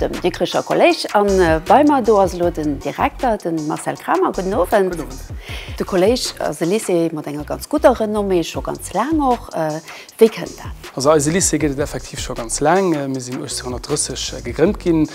Dem Dikricher Kolléisch an bei mer do ass elo den Direkter, den Marcel Kramer. Gudden Owend. Gudden Owend. De Kolléisch ass e Lycée mat enger ganz gudder Renommée, scho ganz laang och. Wéi kënnt dat? Also eise Lycée gëtt et effektiv scho ganz laang. Mir sinn 1830 gegrënnt ginn,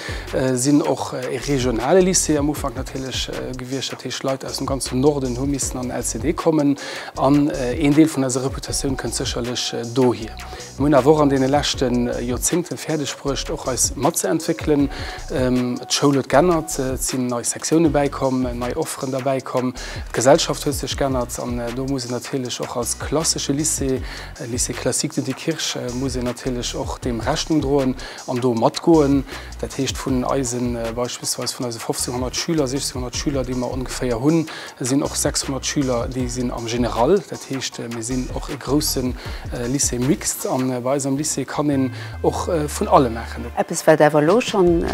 sinn och e regionale Lycée am Ufank natierlech gewiescht, dat heescht Leit aus dem ganzen Norden hu missen an den LCD kommen an een Deel vun eiser Reputatioun kënnt sécherlech dohier. Mir hunn awer och an deene leschte Joerzéngte fäerdeg bruecht, och eis matzeentwéckelen. D'Schoul huet geännert, et sinn nei Sektiounen bäikomm, nei Offeren derbäikomm, d'Gesellschaft huet sech geännert an do muss een natierlech och als klassesche Lycée, Lycée classique de Diekirch, muss een natierlech och deem Rechnung droen an do matgoen. Dat heescht, vun eise beispillsweis vun eise 1500 Schüler, 1600 Schüler, déi mer ongeféier hunn, Et sinn och 600 Schüler, déi sinn am General. Dat heescht, mir sinn och e grousse Lycée mixte an bei eis am Lycée kann een och vun allem maachen. Eppes, wat awer elo schonn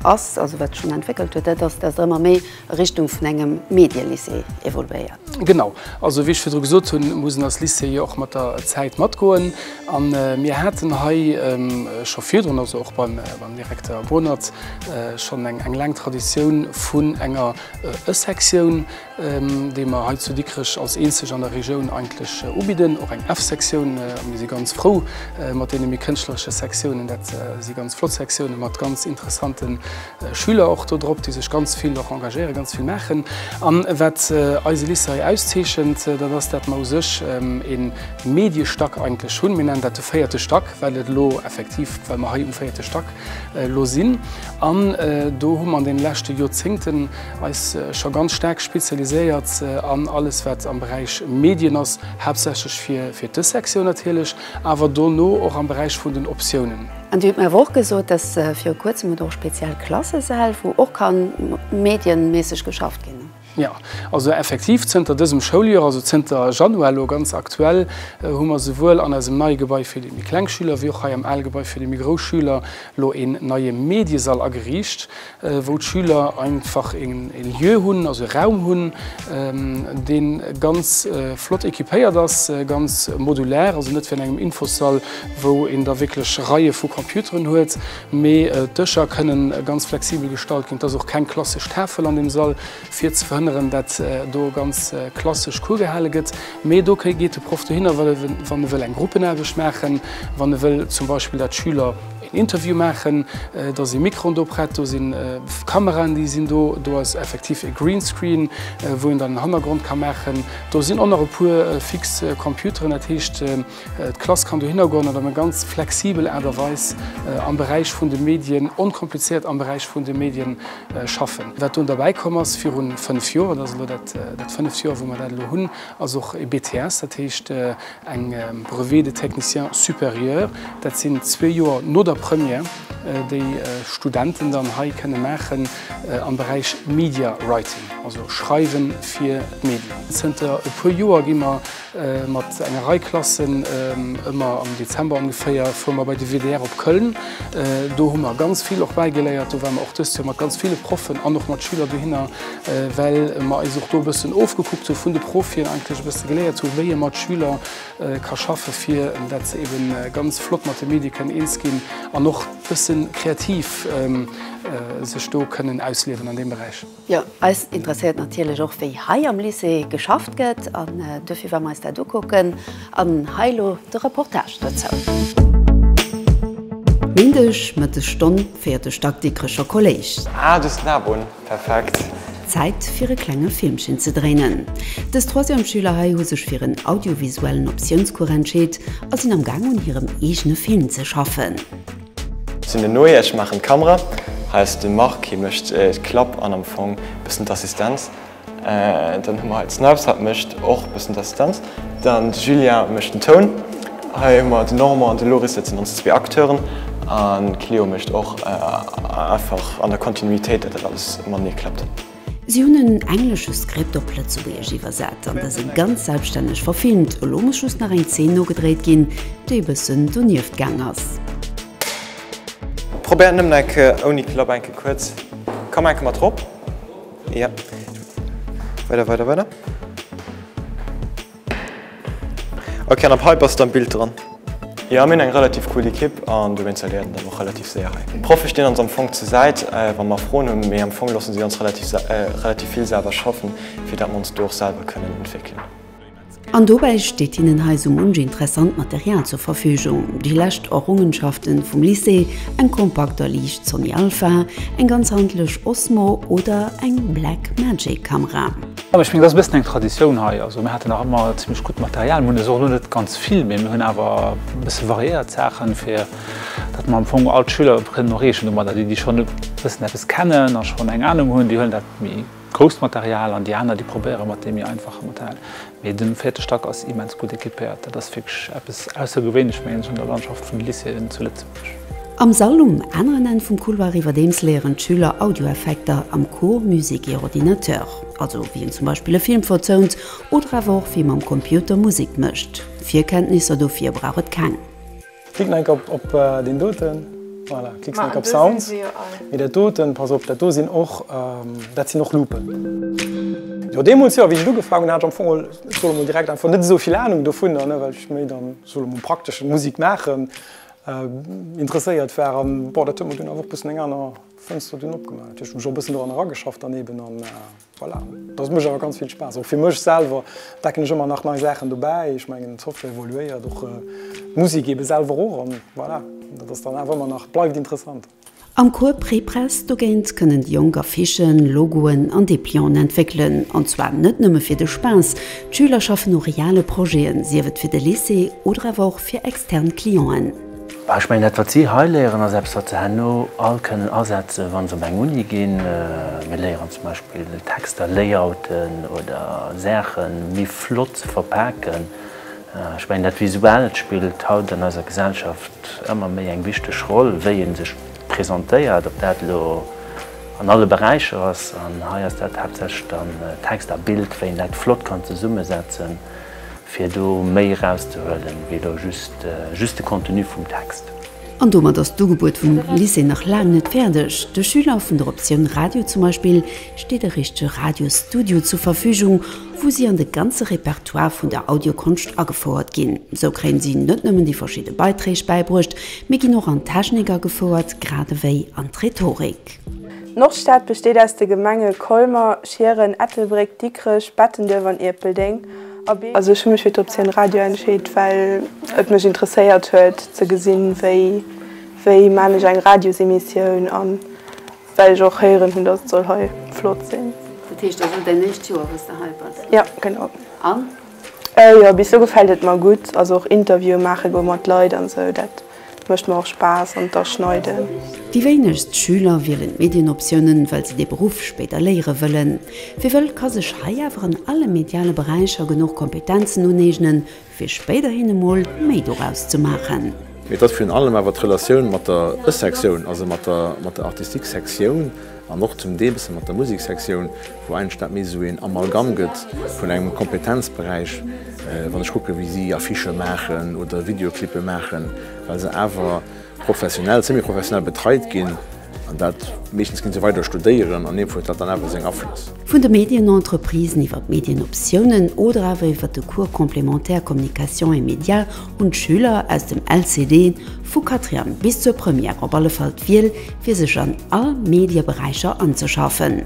ass, also wat schonn entwéckelt huet, dat ass, datt et ëmmer méi a Richtung vun engem Medie-Lycée evoluéiert. Genau. Also wéi ech virdru gesot hunn, muss een als Lycée jo och mat der Zäit matgoen. A mir haten hei scho virdrun, also och beim Direkter Bohnert, schonn eng laang Traditioun vun enger E Sektioun, déi mer hei zu Dikrech als eenzeg an der Regioun eigentlech ubidden. Och eng F-Sektioun. Mir si ganz frou mat deene méi kënschtleresche Sektiounen. Dat si ganz flott Sektiounen mat ganz interessante Schüler och do drop, déi sech ganz vill och engagéieren, ganz vill maachen. An wat eise Lycée hei auszeechent, dat ass, dat mer u sech e Mediestack eigentlech hunn. Mir nennen dat de véierte Stack, well et elo effektiv, well mer hei um véierte Stack Elo sinn. An do hu mer an deene leschte Joerzéngten eis scho ganz staark spezialiséiert an alles, wat am Beräich Medien ass, haaptsächlech fir dës Sektioun natierlech, awer dono och am Beräich vun den Optiounen. An Dir hutt mir awer och gesot, dass viru Kuerzem et och speziell Klassesäll, wou och ka medienmässeg geschafft ginn. Jo, also effektiv zënter dësem Schouljoer, also zënter Januar elo ganz aktuell, hu mer souwuel an eisem neie Gebai fir déi méi kleng Schüler wéi och hei am ale Gebai fir déi méi grouss Schüler elo een neie Mediesall ageriicht, wou d'Schüler einfach e Lieu hunn, also e Raum hunn, dee ganz flott equipéiert ass, ganz modulär, also net wéi an engem Infossall, wou een da wierklech Reie vu Computeren huet, Mee d'Dëscher kënnen ganz flexibel gestalt ginn. Et ass och keng klassesch Tafel an deem Sall, fir ze verhënneren, dat do ganz klassesch Cours gehale gëtt. Mee do geet de Proff dohinner, wann e wëll eng Gruppenaarbecht maachen, wann e wëll zum Beispill, dat d'Schüler een Interview maachen. Da si Mikroen do prett, do si Kameraen, déi sinn do. Do ass effektiv e Greenscreen, wou een dann en Hannergrond ka maachen. Do sinn och nach e puer fix Computeren, dat heescht, D'Klass kann dohinner goen an op eng ganz flexibel Aart a Weis am Beräich vun de Medien, onkomplizéiert am Beräich vun de Medien schaffen. Wat dunn derbäi komm ass virun fënnf Joer, et ass elo dat dat fënneft Joer, wou mer dat elo hunn, ass och e BTS, dat heescht eng Brevet de technicien supérieur. Dat sinn zwee Joer no der Première, déi Studenten dann hei kënne maachen am Beräich Media Writing, also Schreiwe fir d'Medien. Zënter e puer Joer gi mer Mat enger Rei Klassen, ëmmer am Dezember ongeféier, fuere mer bei de WDR op Köln. Do hu mer ganz vill och bäigeléiert. Do ware mer och dëst Joer mat ganz ville Proffen an och mat Schüler dohinner, well mer eis och do e bëssen ofgekuckt hu vun de Profien, eigentlech e bësse geléiert hu wéi ee mat Schüler ka schaffe fir dat se ebe ganz flott mat de Medie kënnen eens ginn an och e bësse kreativ sech do kënnen ausliewen an deem Beräich. Jo, eis interesséiert natierlech och, wéi hei am Lycée geschafft gëtt, an dofir ware mer eis dat ukucken. An hei elo de Reportage dozou. Méindeg Mëttesstonn féiert de Stack Dikrecher Kolléisch. Ah, do sinn Abunn. Perfekt. Zäit fir e klenge Filmchen ze dréinen. Dës Troisième-Schüler hei hu sech fir en audiovisuellen Optiounscours entscheet a sinn am Gaang un hirem eegene Film ze schaffen. Sin den Noé, ech machen d'Kamera. Hei ass den Marc, hie mecht d'Klapp an am Fong bessen d'Assistenz. Dann hun mer hei d'Snipes, hat mecht och bessen d'Assistenz. Dann de Julien mecht den Toun. Hei hun mer den Normand an de Loris setzen ons zwee Acteuren an d'Cléo mecht och einfach an der Kontinuitéit dat dat alles matenee klappt. Si hunn en englesche Script op Lëtzebuergesch iwwersat an dëse ganz selbststänneg verfilmt. Elo muss just nach eng Zeen nogedréit ginn, déi e bëssen donieft gaang ass. Probéiert nëmmen eng Kéier ouni Klapp eng Kéier kuerz. Komm eng Kéier mat rop. Weider, weider, weider. Ok an ab hei bass de am Bild dran. Jo mir hunn eng relativ cool Ekipp an dowéinst erléiert een dann och relativ séier hei. D'Proffe stinn ons am Fong zur Säit wa mer Froen hunn, mee am Fong loosse si ons relativ vill selwer schaffen, fir dat mer ons do och selwer kënnen entwéckelen. An dobäi steet hinnen hei sou munch interessant Material zur Verfügung, déi lescht Errungenschaften vum Lycée, eng kompakt a liicht Sony Alpha, eng ganz handlech Osmo oder eng Blackmagic Kamera. Jo, ech mengen, dat ass e bëssen eng Traditioun hei. Also mir haten nach ëmmer zimmlech gutt Material. Mir hunn es och elo net ganz vill, mee mir hunn awer e bësse variéiert d'Saachen, fir datt mer am Fong all d'Schüler kënnen erreechen domadder. Déi, déi schonn e bëssen eppes kennen a schonn eng Anung hunn, déi huelen dat méi grousst Material an déi aner, déi probéiere mat deem méi einfache Material. Mee den véierte Stack ass immens gutt equipéiert. Dat ass wierklech eppes Aussergewéinleches, mengen ech, an der Landschaft vun de Lycéeën zu Lëtzebuerg. Am Sall um aneren Enn vum Couloir iwwerdeems léieren d'Schüler Audioeffekter am Cours Musique et Ordinateur, also wéi een zum Beispill e Film verzount oder awer och wéi ee mam Computer Musek mécht. Virkenntnisser dofir brauch et keng. Klicken eng Kéier op deen doten. Voilà, klicksen eng Kéier op Sounds. Mee dat doten, pass op, dat do sinn och, dat sinn och Loupen. Jo, deemools, jo, wéi ech et ugefaangen hunn, hat ech am Fong elo, solle mol direkt einfach net esou vill Anung dovunner, well ech méi dann, solle mol, praktesch Musek maachen. Interesséiert war an bon dat huet mer dunn awer och bëssen eng aner Fënster dunn opgemaach. Natierlech hunn ech och bëssen doran erageschafft daneben an voilà. Dat mécht awer ganz vill Spaass och fir mech selwer entdecken ech ëmmer nach nei Saachen dobäi. Ech mengen d'Software evoluéiert och d'Musek ebe selwer och an voilà dat ass dann awer ëmmer nach bleift interessant. Am Cours Prépress dogéint kënnen déi Jonk Affichen, Logoen an Deplianten entwéckelen, an zwar net nëmme fir de Spaass. D'Schüler schaffen u reale Projeten, sief et fir de Lycée oder awer och fir extern Clienten. Ech mengen, dat wat si hei léieren, ass eppes, wat se herno all kënnen asetzen, wa se op eng Uni ginn. Mir léieren zum Beispill Texter layouten oder Saache méi flott ze verpaken. Ech mengen, dat Visuellt spillt haut an eiser Gesellschaft ëmmer méi eng wichteg Roll, wéi ee sech presentéiert, ob dat elo an alle Beräicher ass, an hei ass dat haaptsächlech dann Text a Bild, wéi een dat flott kann zesummesetzen, fir do méi erauszehuelen, wéi elo just de Contenu vum Text. An domat ass d'Ugebuet vum Lycée nach laang net fäerdeg. De Schüler vun der Optioun Radio zum Beispill steet e richtege Radiostudio zur Verfügung, wou si an de ganze Repertoire vun der Audiokonscht agefouert ginn. Sou kréien si net nëmmen déi verschidde Beiträg bäibruecht, mee ginn och an d'Technik agefouert, grad ewéi an d'Rhetorik. D'Nordstad besteet aus de Gemenge Colmer, Schieren, Ettelbréck, Dikrech, Bettenduerf an Ierpeldeng. Also ech hu mech fir d'Optioun Radio entscheet, well et mech interesséiert huet ze gesinn, wéi wéi man ech eng Radiosemissioun an well ech och héieren hunn, datt et soll hei flott sinn. Dat heescht, dat ass elo däin éischt Joer, wou s de hei bass? Jo, genau. An? Jo, bis elo gefält et mer gutt. Also och Interviewe maache goe mat Leit an esou, dat Mécht mer och Spaass an d'Aschneiden. Déi wéinegst Schüler wielen d'Medienoptiounen, well se dee Beruff spéider léiere wëllen. Wie wëll, ka sech hei awer an alle mediale Beräicher genuch Kompetenzen uneegnen, fir spéiderhin emol méi doraus ze maachen. Mee et ass virun allem awer d'Relatioun mat der e-Sektioun, also mat der Artistique-Sektioun. An och zum Deel bësse mat der Museksektioun, wou eigentlech dat méi esou een Amalgamm gëtt vun engem Kompetenzberäich, wann ech kucke wéi si Affichë maachen oder Videoclippe maachen, well se awer professionell, semi-professionell betreit ginn. An dat, meeschtens gi se weider studéieren an deemfo huet dat dann awer seng Aflëss. Vun de Medienentreprisen iwwer d'Medienoptiounen oder awer iwwer de Cours complémentaire Communication et médias hunn d'Schüler aus dem LCD, vu Quatrième bis zur Première, op alle Fall d'Wiel fir sech an all Medieberäicher anzeschaffen.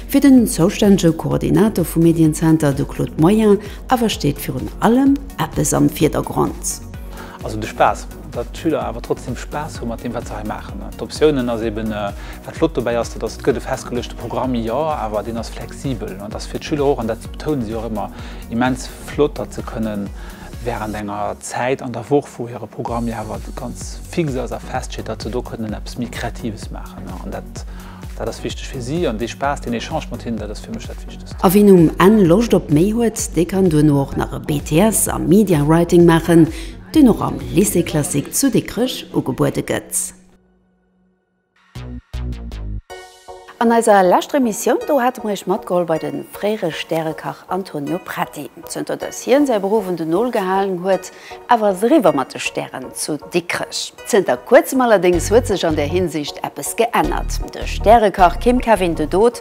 Fir den zoustännege Koordinator vum Medienzenter, de Claude Moyen, awer steet virun allem eppes am Virdergrond. Also de Spaass. Datt d'Schüler awer trotzdeem Spaass hu mat deem, wat se hei maachen. D'Optiounen ass eeben, wat flott dobäi ass, dat ass, et gëtt e festgeluechte Programm, jo, awer deen ass flexibel. An et ass fir d'Schüler och, an dat betounen si och ëmmer, immens flott, datt se kënnen, Wärend enger Zäit an der Woch, wou hire Programm jo awer ganz fix ass a feststeet, datt se do kënnen eppes méi Kreatives maachen. An dat, dat ass wichteg fir si. An dee Spaass, deen Echange mat hinnen, dat ass fir mech dat Wichtegst. A wien um Enn Loscht op méi huet, dee kann duerno och nach e BTS am Media Writing maachen, deen och am Lycée Classique zu Dikrech ugebuede gëtt. An eiser leschter Emissioun do hate mer iech matgeholl bei de fréiere Stärekach Antonio Preti. Zënter datt hien säi Beruff un den Nol gehalen huet, awer ass eriwwer mat de Stären zu Dikrech. Zënter kuerzem allerdéngs huet sech an där Hinsicht eppes geännert, De Stärekach Kim Kevin de Dood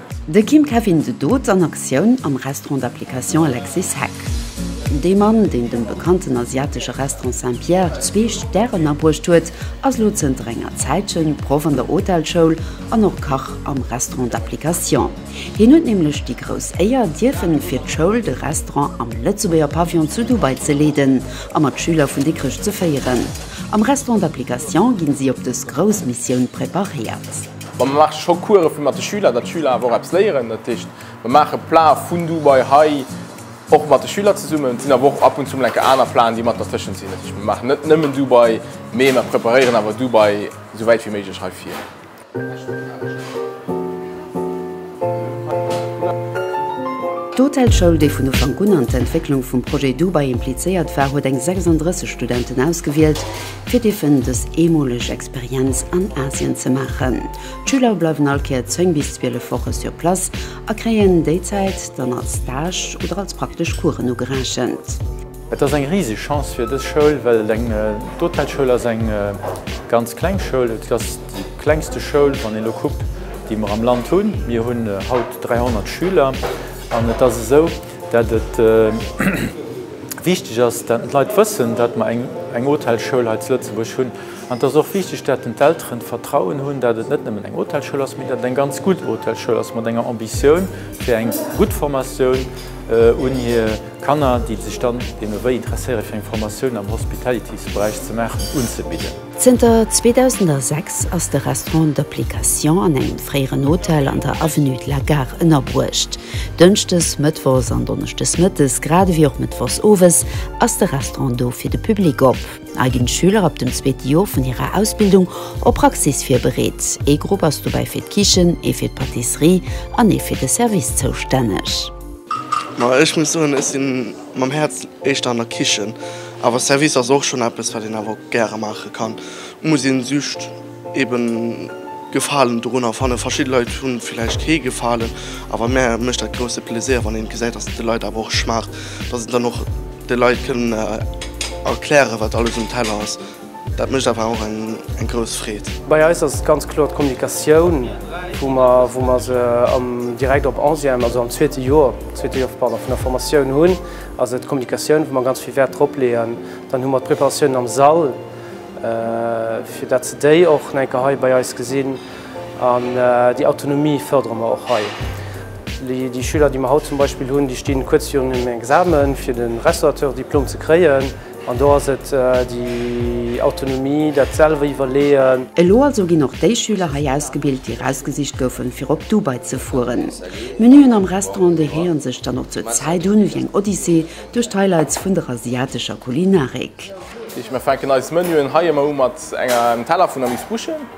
De Kim Kevin de Dood an Aktioun am Restaurant d'application Alexis Heck. De Mann, deen dem bekannten asiatesche Restaurant Saint-Pierre zwee Stären abruecht huet, ass elo zënter enger Zäitche Proff an der Hotelschoul an och Kach am Restaurant d'application. Hien huet nämlech déi grouss Éier, dierfen fir d'Schoul de Restaurant am Lëtzebuerger Pavillon zu Dubai ze leeden a mat Schüler vun Dikrech ze féieren. Am Restaurant d'application ginn si op dës grouss Missioun preparéiert. Mä mer maache scho Course fir mat de Schüler, datt d'Schüler awer och eppes léieren. Dat heescht, mer maache Plae vun du bei hei och mat de Schüler zesummen. Et sinn awer och ab und zu mol enke aner Plaen, déi mat dertëschent sinn. Dat heescht, mer maachen net nëmmen du bei, mee mer preparéieren awer du bei esou wäit wéi méiglech hei vir. D'Hotelschoul, déi vun Ufank un an d'Entwécklung vum Projet du bei implizéiert war, huet eng 36 Studenten ausgewielt, fir dierfen dës eemoleg Experienz an Asien ze maachen. D'Schüler bleiwen all Kéier 10 bis 12 Woche sur place a kréien déi Zäit dann als Stage oder als praktesch Coursen ugerechent. Et ass eng riseg Chance fir dës Schoul, well et eng, d'Hotelschoul ass eng ganz kleng Schoul. Et ass déi klengste Schoul, wann een elo kuckt, déi mer am Land hunn. Mir hunn haut 300 Schüler an et ass esou, Datt et wichteg ass, datt d'Leit wëssen, datt mer eng Hotelschoul hei zu Lëtzebuerg hunn. An et ass och wichteg, datt den d'Elteren d'Vertrauen hunn, datt et net nëmmen eng Hotelschoul ass, mee datt et eng ganz gutt Hotelschoul ass mat enger Ambitioun fir eng gutt Formatioun un hir Kanner, déi sech dann deemno wéi interesséiere fir eng Formatioun am Hospitalities-Beräich ze maachen, unzebidden. Zënter 2006 ass de Restaurant d'Application an engem fréieren Hotel an der Avenue de la Gare ënnerbruecht. Dënschdes, Mëttwochs an Donneschdes Mëttes, grad ewéi och Mëttwochs Owes ass de Restaurant do fir de Public op. Hei ginn d'Schüler ab dem zweete Jor vun hirer Ausbildung op Praxis virbereet. Ee Grupp ass dobäi fir d'Kichen, ee fir d'Patisserie an ee fir de Service zoustänneg. Ma ech muss soen, ech sinn. Mam Häerz éischter an der Kichen, awer Service ass och schonn eppes, wat een awer och gäre maache kann. Muss een just eben Gefalen dorunner fannen. Verschidde Leit hu villäicht kee Gefalen, awer mär mécht dat grousse Plaisir, wann een gesäit, dass et de Leit awer och schmaacht, dass een dann och de Leit kënn erklären, wat alles um Teller ass. Dat mécht awer och eng grouss Freed. Bei eis ass et ganz kloer d'Kommunikatioun, wou mer se direkt op onzième, also am zweete Joer, zweete Joer, pardon, vun der Formatioun hunn, ass et d'Kommunikatioun, wou mer ganz vill Wäert drop leeën. Dann hu mer d'Preparatiounen am Sall, fir dat se déi och nach eng Kéier hei bei eis gesinn. An déi Autonomie fërdere mer och hei. Déi Schüler, déi mer haut zum Beispill hunn, déi stinn kuerz virun engem Examen, fir de Restaurateur-Diplom ze kréien. An do ass et déi Autonomie, dat selwer iwwerleeën. Elo also ginn och déi Schüler hei ausgebilt, déi erausgesicht goufen, fir op Dubai ze fueren. D'Menüen am Restaurant dehéieren sech dann och zur Zäit un ewéi eng Odyssee duerch d'Highlights vun der asiatescher Kulinarik. Mir fänken eis Menüen hei ëmmer u mat engem Teller vun Amuse-Bouche.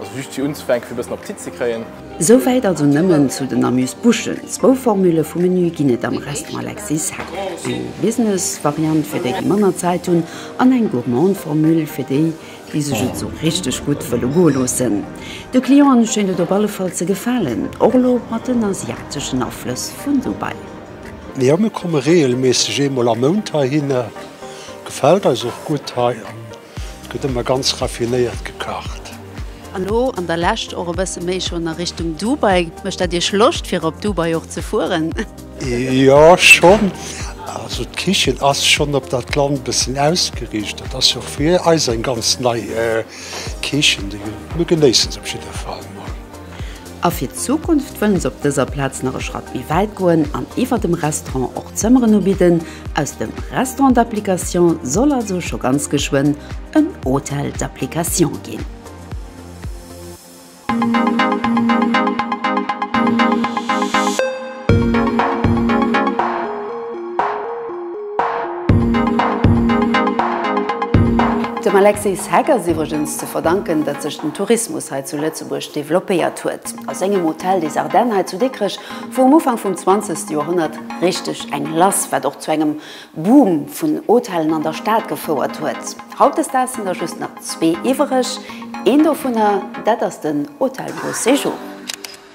Also just fir unzefänken, fir e bëssen Appetit ze kréien. Souwäit also nëmmen zu den Amuse-Bouchen. Zwou Formule vum Menü ginn et am Restaurant Alexis Hack, eng Business-Variant fir déi, déi manner Zäit hunn, an eng Gourmand-Formule fir déi, déi sech et esou richteg gutt wëlle goe loossen. De Clienten schéint et op alle Fall ze gefalen, och elo mat den asiateschen Aflëss vun Dubai. Jo, mir komme reegelméisseg eemol am Mount heihinner. Gefält eis och gutt hei. Et gëtt ëmmer ganz raffinéiert gekacht. An elo an der Lescht och e bësse méi schonn a Richtung Dubai. Mécht dat Iech Loscht fir op Dubai och ze fueren? Jo schonn. Also d'Kichen ass schonn op dat Land e bëssen ausgeriicht. Dat ass jo och fir eis eng ganz nei Kichen. Mir genéissen se op jidder Fall mol. A fir d'Zukunft wëllen se op dëser Plaz nach e Schratt méi wäit goen an iwwer dem Restaurant och Zëmmeren ubidden. Aus dem Restaurant d'application soll also scho ganz geschwënn en Hôtel d'application ginn. Dem Alexis Heck ass iwwregens ze verdanken, datt sech den Tourismus hei zu Lëtzebuerg developpéiert huet. A sengem Hôtel des Ardennes hei zu Dikrech wor um Ufank vum zwanzegste Joerhonnert richteg eng lass, wat och zu engem Boom vun Hotellen an der Stad gefouert huet. Hautdesdaags sinn der just nach zwee iwwereg. Een dovunner, dat ass den Hôtel Beau Séjour.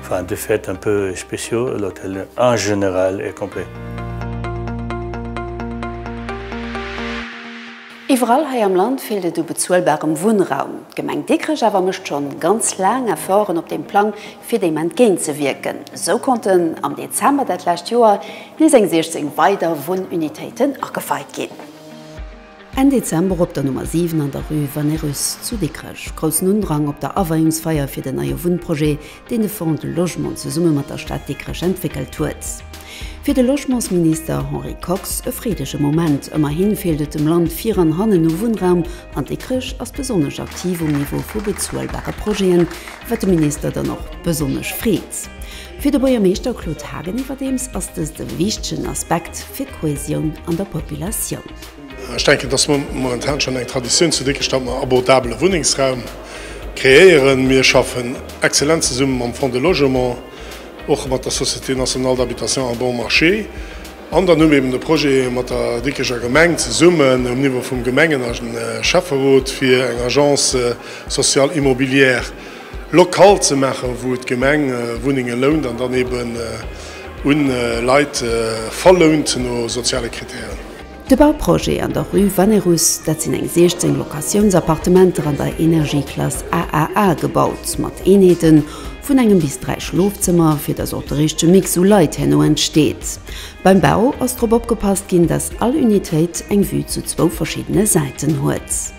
Enfin, de fait un peu spéciaux, l'hôtel en général est complet. Iwwerall hei am Land feelt et u bezuelbarem Wunnraum. D'Gemeng Dikrech awer mécht schonn ganz laang Efforten op deem Plang, fir deem entgéintzewierken. Esou konnten am Dezember dat lescht Joer nees eng 16 weider Wunnunitéiten ageweit ginn. Enn Dezember op der Nummer 7 an der Rue Vannerus zu Dikrech. Groussen Undrang op der Aweiungsfeier fir den neie Wunnprojet, deen de Fonds de Logement zesumme mat der Stad Dikrech entwéckelt huet. Fir de Logementsminister Henri Kox e freedege Moment. Ëmmerhi feelt et dem Land vir an hannen u Wunnraum an Dikrech ass besonnesch aktiv um Niveau vu bezuelbare Projeten, wat de Minister dann och besonnesch freet. Fir de Buergermeeschter Claude Haagen iwwerdeems ass dëst e wichtegen Aspekt fir d'Kohäsioun an der Populatioun. Ech denken, dass mer momentan schonn eng Traditioun zu Dikrech, datt mer abordabele Wunnengsraum kreéieren. Mir schaffen exzellent zesumme mam Fonds de logement, och mat der Société nationale d'habitation à bon marché. An dann hu mir eben de Projet mat der Dikrecher Gemeng zesummen, um Niveau vum Gemengen a Schäfferot, fir eng Agence sociale immobilière Lokal ze maachen, wou d'Gemeng Wunnenge lount an dann eben un Leit verlount no soziale Krittären. De Bauprojet an der Rue Vannerus, dat sinn eng 16 Locatiounsappartementer an der Energieklass AAA, gebaut mat Eenheete vun engem bis dräi Schlofzëmmer, fir datt och de richtege Mix u Leit herno entsteet. Beim Bau ass drop opgepasst ginn, datt all Unitéit eng Vue zu zwou verschiddene Säiten huet.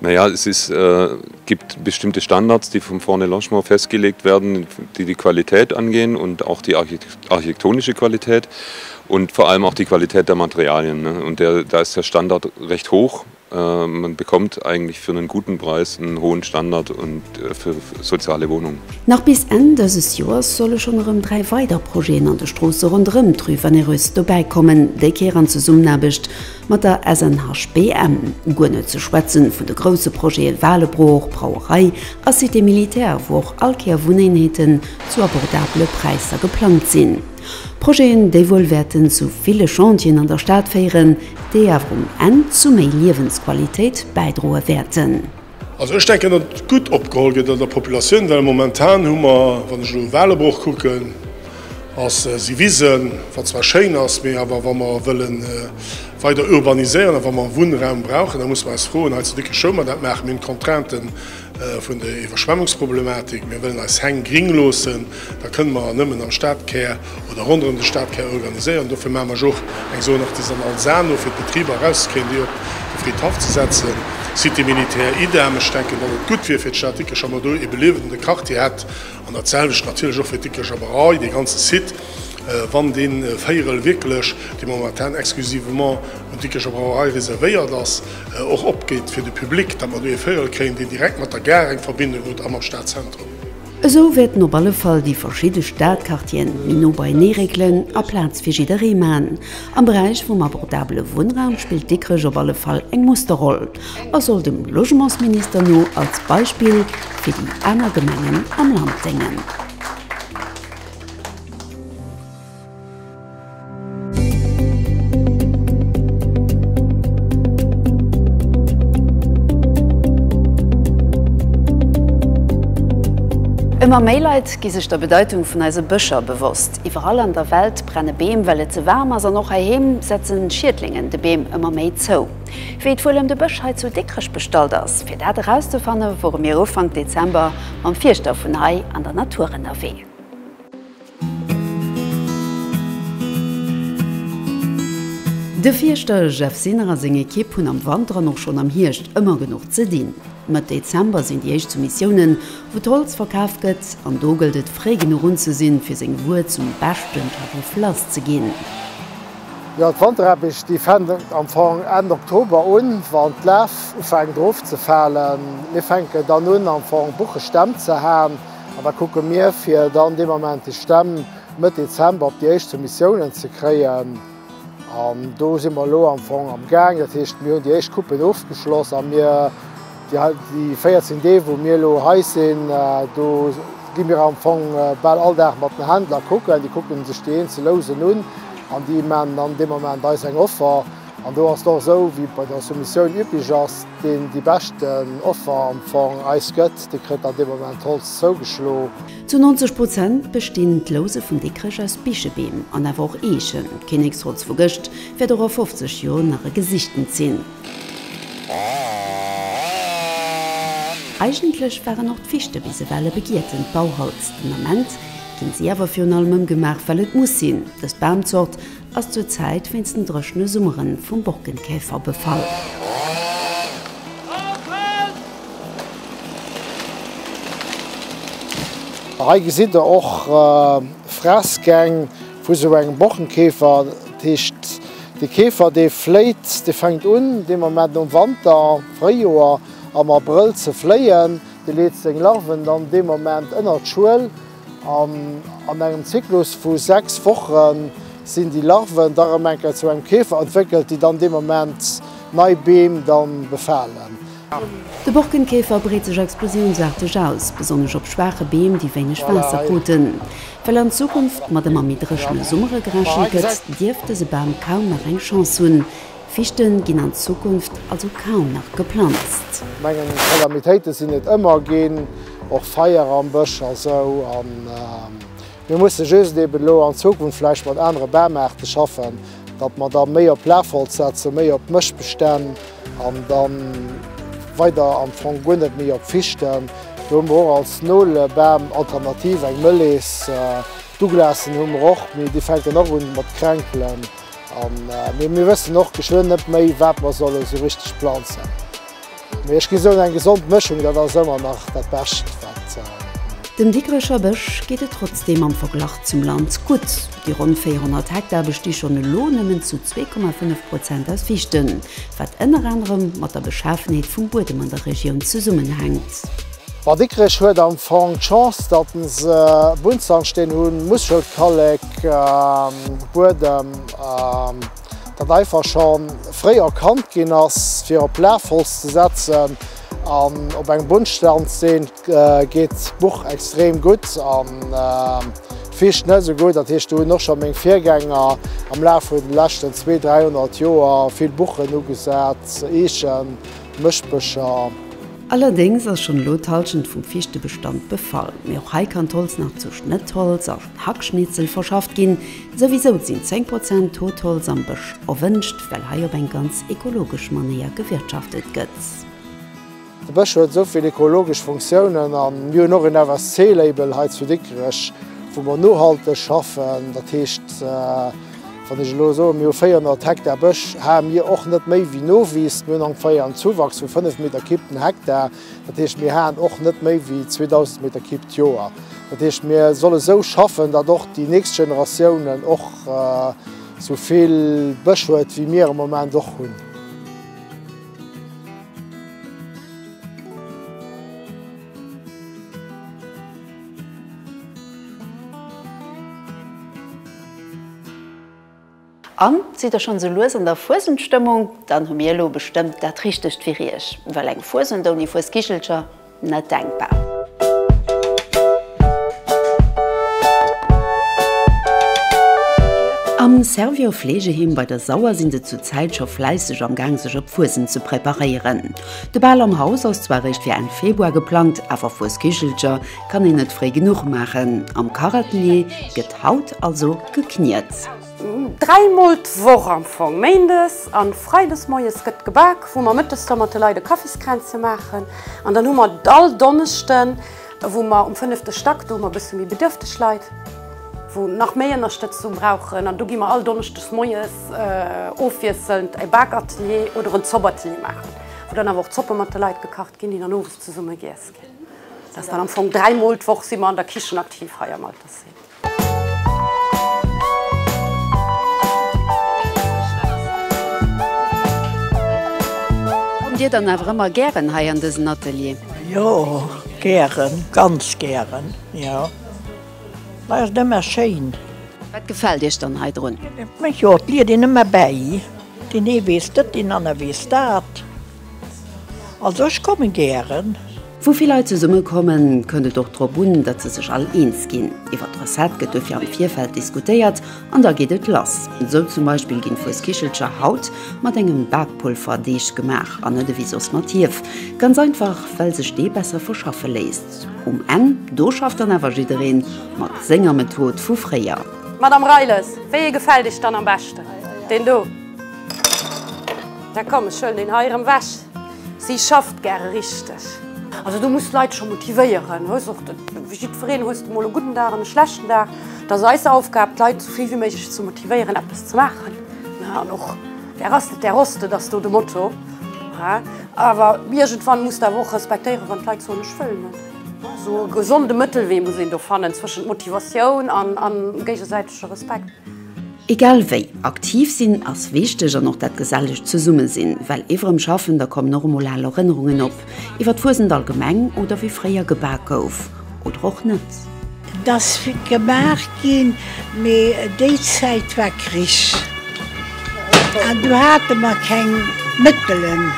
Na ja, es ist, gibt bestimmte Standards, die vom Fonds de Logement festgelegt werden, die die Qualität angehen und auch die architektonische Qualität und vor allem auch die Qualität der Materialien. Und der, da ist der Standard recht hoch. Man bekommt eigentlich für einen guten Preis einen hohen Standard für soziale Wohnungen. Nach bis Enn dëses Joers solle schonn erëm dräi weider Projeten an de Stroosse ronderëm d'Rue Vannereuse dobäikommen, déi Kéier an Zesummenaarbecht Mat der SNHBM, guer net ze schwätzen vun de grousse Projete Waalebroach, Brauerei a Cité militaire, wou och all Kéier Wunneenheeten zu abordabele Präisser geplangt sinn. Projeten, déi wuel wäerten zu ville Chantieren an der Stad féieren, déi awer um Enn zu méi Liewensqualitéit bäidroe wäerten. Also ech denken, datt et gutt opgeholl gëtt an der Populatioun, well momentan hu mer, wann ech elo e Walebroch kucken, ass si Wisen, wat zwar schéin ass, mee awer wa mer wëlle weider urbaniséieren a wa mer Wunnraum brauchen, da muss mer eis froen, hei zu Dikrech houe mer dat, maache mir d'Contrainte vun der Iwwerschwemmungsproblematik, mir wëllen eis Häng gring loossen, Da kënnen mer nëmmen am Stadkär oder ronderëm de Stadkär organiséieren. Dofir maache mer jo och eng Zone artisanale Saarno fir d'Betriber erauszekréien, déi op de Fridhaff ze setzen. Cité militaire, idem. Ech denken, datt et gutt wier fir d'Stad Dikrech, wa mer do ee beliewende Quartier hätt. An dat selwecht natierlech och fir d'Dikrecher Brauerei, dee ganze Site, wann dee Véierel wierklech, dee momentan exclusivement un d'Dikrecher Brauerei reservéiert ass, och opgeet fir de Public, datt mer do ee Véierel kréien, deen direkt mat der Gare eng Verbindung huet a mam Stadzentrum. Esou wäerten op alle Fall déi verschidde Stadquartieren méi no beienee réckelen a Plaz fir jidderee man. Am Beräich vum abordabele Wunnraum spillt Dikrech op alle Fall eng Musterroll a soll dem Logementsminister no als Beispill fir déi aner Gemengen am Land déngen. Ëmmer méi Leit gi sech der Bedeitung vun eise Bëscher bewosst. Iwwerall an der Welt brenne Beem, well et ze waarm ass, an och heiheem setze Schiedlingen de Beem ëmmer méi zou. Wéi et wuel ëm de Bësch hei zu Dikrech bestallt ass? Fir dat erauszefanne wore mir Ufank Dezember mam Fierschter vun hei an der Natur ënnerwee. De Fierschter Jeff Sinner a seng Ekipp hunn am Wanter an och schonn am Hierscht ëmmer genuch ze dinn. Mëtt Dezember sinn déi éischt Soumissiounen, wou d'Holz verkaf gëtt, an do gëllt et, fréi genuch un ze sinn, fir seng Wuer zum beschten Tarif lass ze ginn. Jo, d'Wanteraarbecht déi fännt am Fong Enn Oktober un, wann d'Laf ufänkt erofzefalen. Mir fänken dann un, am Fong Buchesstämm ze haen. An da kucke mir, fir dann dee Moment déi Stämm Mëtt Dezember op déi éischt Soumissiounen ze kréien. An do si mer elo am Fong am Gaang. Dat heescht, mir hunn déi éischt Coupen ofgeschloss a mir déi 14 Deeg, wou mir elo hei sinn, do gi mir am Fong bal all Dag mat den Händler kucken. Déi kucke sech déi eenzel Lousen un an déi maachen dann dee Moment eis eng Offer. An do ass et och esou, wéi et bei der Soumissioun üblech ass, deen déi beschten Offer am Fong eis gëtt, dee kritt dann dee Moment d'Holz zougeschlo. Zu 90 Prozent bestinn d'Louse vum Dickrech aus Bichebeem an awer och Eechen. D'Kinneksholz vu gëscht wäert och a 50 Joer nach e gesichtend sinn. Eigentlech waren och d'Fichte bis ewell e begietend Bauholz. Den Ament ginn si awer virun allem ëmgemaach, well et muss sinn. Dës Bamzort ass zur Zäit wéinst den dréchne Summere vum Borkenkäfer befall. Hei gesitt der och Fressgäng vu sou engem Borkenkäfer. Dat heescht, de Käfer dee fléit, dee fänkt un dee Moment am Wanter, Fréijoer, am Abrëll ze fléien. Dee leet seng Larven dann dee Moment ënnert d'Schuel. An engem Zyklus vu 6 Woche sinn déi Larven da rëm eng Kéier zu engem Käfer entwéckelt, déi dann dee Moment nei Beem da befalen. De Borkenkäfer breet sech explosiounsarteg aus, besonnesch op schwaache Beem, déi wéineg Waasser kruten. Well an Zukunft mat ëmmer méi dréchene Summere gerechent gëtt, dierft dëse Bam kaum nach eng Chance hunn, Fichte ginn an Zukunft also kaum nach geplanzt. Mengen Calamitéiten sinn et ëmmer ginn, och Feier am Bësch a sou, an mir musse just eben elo an Zukunft vläicht mat anere Bamaarten schaffen, datt mer da méi op Lafholz setzen, méi op Mëschbestänn an da weider am Fong guer net méi op Fichten. Do hu mer och als Nolebam alternativ eng Mëllees. D'Douglasen hu mer och, mee déi fänken och un mat kränkelen. An mee mir wëssen och geschwënn net méi, wat mer solle sou richteg planzen. Mee ech gi soen, eng gesond Mëschung, dat ass ëmmer nach dat Bescht, wat et gëtt. Dem Dikrecher Bësch geet et trotzdeem am Verglach zum Land gutt. Déi ronn 400 Hektar besti schonn elo nëmmen zu 2,5 Prozent aus Fichten, wat ënner anerem mat der Beschafenheet vum Buedem an der Regioun zesummenhänkt. Bad Dikrech huet am Fong d'Chance, datt se Buntsandstén hunn, Muschelkallek, Buedem, dat einfach scho fréi erkannt ginn ass, fir op Lafholz ze setzen. An op engem Buntsandstén geet d'Buch extrem gutt an d'Fiicht net esou gutt. Dat heescht, do hunn och scho meng Virgänger am Laf vun de leschten zwee, dräihonnert Joer vill Buchen ugesat, Eechen, Mëschbëscher. Allerdéngs ass schonn elo d'Hallschent vum Fichtebestand befall. Mee och hei kann d'Holz nach zu Schnëttholz a Hackschnitzel verschafft ginn. Souwisou sinn 10 Prozent Totholz am Bësch erwënscht, well hei op eng ganz ekologesch Manéier gewirtschaftet gëtt. De Bësch huet esou vill ekologesch Funktiounen a mir hunn och een FSC-Label hei zu Dikrech, wou mer nohalteg schaffen. Dat heescht. Wann ech elo soen, mir hu 400 Hektar Bësch, hae mir och net méi wéi Nowis. Mir hunn ongeféier en Zuwachs vu 5 Meter Cube den Hektar. Dat heescht, mir haen och net méi wéi 2.000 Meter Cube d'Joer. Dat heescht, mir solle sou schaffen, datt och déi nächst Generatiounen och sou vill Bësch huet, wéi mir am Moment och hunn. An, sidd der schonn esou lues an der Fuesendstëmmung? Dann hu mir elo bestëmmt dat Richtegt fir Iech, well eng Fuesend ouni Fuesgigelcher, net denkbar! Am Servior Fleegeheem bei der Sauer sinn se zur Zäit scho fläisseg am Gaang sech op d'Fuesend ze preparéieren. De Bal am Haus ass zwar eréischt fir Enn Februar geplangt, awer Fuesgigelcher Kann een net fréi genuch maachen. Am Kachatelier gëtt haut also gekniet. Dräi Mol d'Woch am Fong, méindes an freides moies gëtt gebak, wou mer mëttes da mat de Leit e Kaffiskränzchen maachen. An dann hu mer all Donneschden, wou mer um fënnefte Stack, do hu mer e bësse méi bedürfteg Leit, wou nach méi Ënnerstëtzung brauchen. An do gi mer all Donneschdes moies ofwiesselnd e Bakatelier oder en Zopatelier maachen, wou dann awer och Zoppe mat de Leit gekacht ginn, déi dann owes zesumme giess. Dat ass dann am Fong dräi Mol d'Woch si mer an der Kichen aktiv hei am Altersheem. Kommt Dir dann awer ëmmer gären hei an dësen Atelier? Jo, gären, ganz gären, jo. Hei ass et ëmmer schéin. Wat gefält Iech dann hei drun? Jo, et liet een ëmmer bäi. Deen ee weess dëtt, deen aner weess dat. Also ech kommen gären. Wou vill Leit zesumme kommen, kënnt et och drop un, datt se sech all eens ginn. Iwwer d'Recette gëtt dofir am Virfeld diskutéiert an da geet et lass. Sou zum Beispill ginn Fueskichelcher haut mat engem Bakpulverdeeg gemaach an net ewéi soss mat Hief. Ganz einfach well sech dee besser verschaffe léisst. Um Enn do schafft dann awer jidderee mat senger Method vu fréier. Madame Reiles, wéi ee gefält Iech dann am beschten? Deen do? Da komm, ech huelen deen hei erëm weg. Si schafft gäre richteg. Also du muss d'Leit scho motivéieren. Hues och de, wéi jiddwereen, hues de mol e gudden Dag an e schlechten Dag. Et ass eis Aufgab, d'Leit esou vill wéi méiglech ze motivéieren, eppes ze maachen. An och Der ass net, der hoss net ass do de Motto. Awer iergendwann muss de awer och respektéieren, wann d'Leit soen, ech wëll net. Esou e gesonde Mëttelwee muss een do fannen zwëschent Motivatioun a géigesäitege Respekt. Egal wéi, aktiv sinn ass wichteg an och dat gesellecht Zesummesinn. Well iwwer em Schaffen, da kommen och emol al Erënnerungen op, iwwer d'Fuesent allgemeng oder wéi fréier gebak gouf. Oder och net. Et ass gemaach ginn, mee déi Zäit war Krich an do hate mer keng Mëttelen,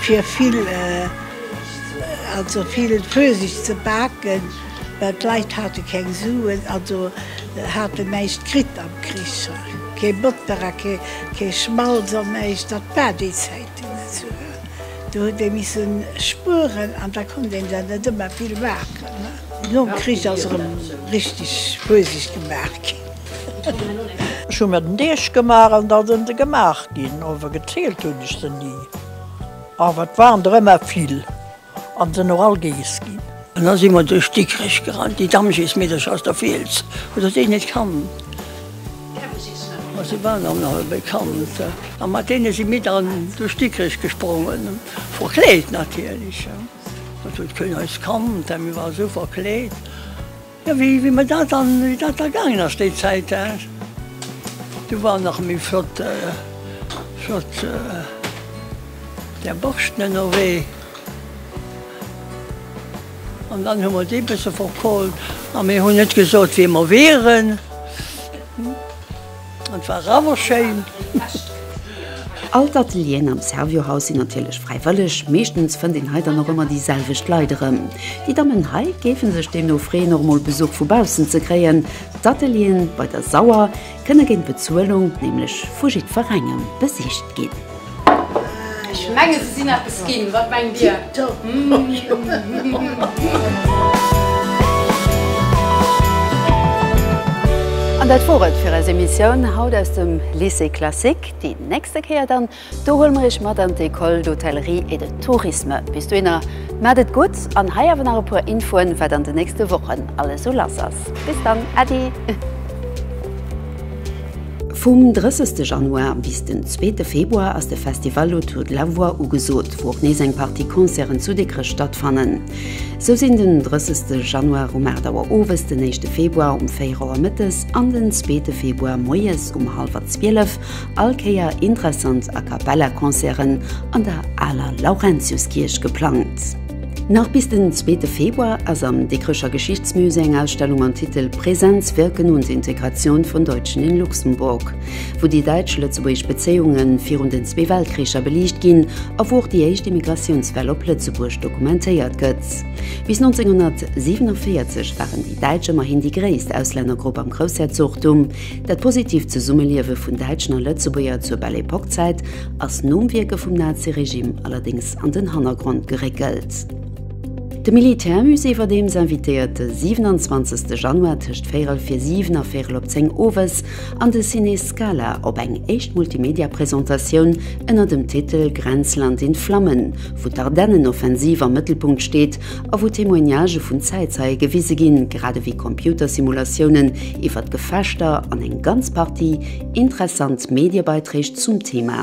fir vill, also vill Fuesent ze baken. Well d'Leit hate keng Suen, also hat en näischt kritt am Krich, kee Botter a kee Schmalz an näischt, dat war déi Zäiten esou. Do huet ee missen spueren an da konnt een der net ëmmer vill maachen. Nom Krich ass erëm richteg Fuesigt gemaach ginn. Ech hu mer den Deeg gemaach an da sinn se gemaach ginn, awer gezielt hunn ech se ni, awer et waren der ëmmer vill. An sen och all geess ginn. An da si mer duerch Dikrech gerannt. Déi Damm geess mir duerch aus der Fiels, wou der déi net kannt. Ma si waren am nach e bekannt. A mat deene si mir dann duerch Dikrech gesprongen, verkleet natierlech. An do huet keen eis kannt, well mir waren esou verkleet. Jo, wéi mer dat dann, wéi dat da gaangen ass déi Zäit, hä, do war nach méi flott, flott där Borschten ënnerwee. An dann hu mer déi bësse verkohlt a mir hunn net gesot, wie mer wieren. Et war awer schéin. All d'Atelieren am Servior Haus sinn natierlech fräiwëlleg. Meeschtens fënnt een hei dann och ëmmer déi selwecht Leit erëm. Déi Dammen hei géife sech deemno freeën och mol Besuch vu baussen ze kréien. D'Ateliere bei der Sauer kënne géint Bezuelung nämlech vu jiddwerengem besicht ginn. Ech mengen se sinn eppes ginn, wat mengt Dir? An dat wor et fir eis Emissioun haut aus dem Lycée Classique. Déi nächste Kéier dann, do huele mer Iech mat an d'École d'Hôtellerie et de Tourisme. Bis dohinner maacht et gutt an hei awer nach e puer Infoen, wat an de nächste Wochen alles sou lass ass. Bis dann, Äddi! Vum 30 Januar bis den zweete Februar ass de Festival Autour de la voix ugesot, wou och nees eng Partie Concerten zu Dikrech stattfannen. Sou sinn den 30 Januar um 8 Auer owes, den éischte Februar um 4 Auer mëttes an den zweete Februar moies um hallwer 12 all Kéier interessant A-Cappella-Concerten an der aler Laurentiuskierch geplangt. Nach bis den zweete Februar ass am Dikrecher Geschichtsmusée eng Ausstellung mam Titel Präsenz, Wirken und Integration von Deutschen in Luxemburg, wou déi däitsch-lëtzebuergesch Bezéiunge virun den zwee Weltkricher beliicht ginn a wou och déi éischt Immigratiounswell op Lëtzebuerg dokumentéiert gëtt. Bis 1947 waren déi Däitsch ëmmerhin déi gréisst Auslännergrupp am Groussherzogtum. Dat positiivt Zesummeliewe vun Däitschen a Lëtzebuerger zur Belle Époque-Zäit ass nom Wierke vum Nazi-Regime allerdéngs Protest an den Hannergrond geréckelt. De Militärmusée war deems invitéiert de 27 Januar tëscht véirel fir 7 a véirel op 10 owes an de Ciné Scala op eng éischt Multimedia-Presentatioun ënner dem Titel Grenzland in Flammen, wou d'Ardennenoffensiv am Mëttelpunkt steet a wou Témoignagë vun Zäitzeie gewise ginn, grad ewéi Computersimulatiounen iwwert d'Gefechter an eng ganz Partie interessant Mediebeiträg zum Thema.